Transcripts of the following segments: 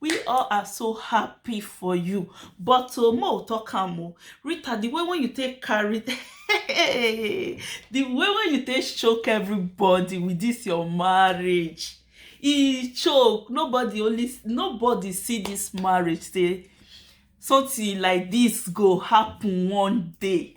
We all are so happy for you. But oh, mo talk am o. Rita, the way when you take carry, the way when you take choke everybody with this your marriage, e choke. Nobody only nobody see this marriage say something like this go happen one day.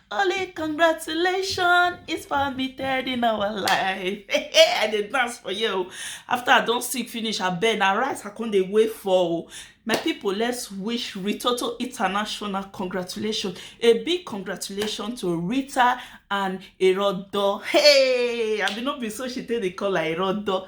Only congratulations is permitted in our life. I did dance for you. After I don't sick finish, I beg na rice I come dey wait for. My people, let's wish Ritoto International congratulations. A big congratulations to Rita and Erodo. Hey, I mean, not be so she take the call like Erodo.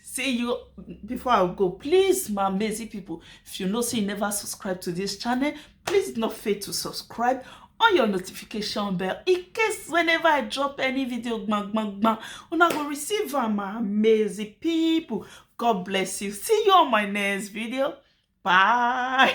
see you before i go please my amazing people if you know say you never subscribe to this channel please do not fail to subscribe on your notification bell in case whenever i drop any video bang bang bang una go receive am my amazing people god bless you see you on my next video bye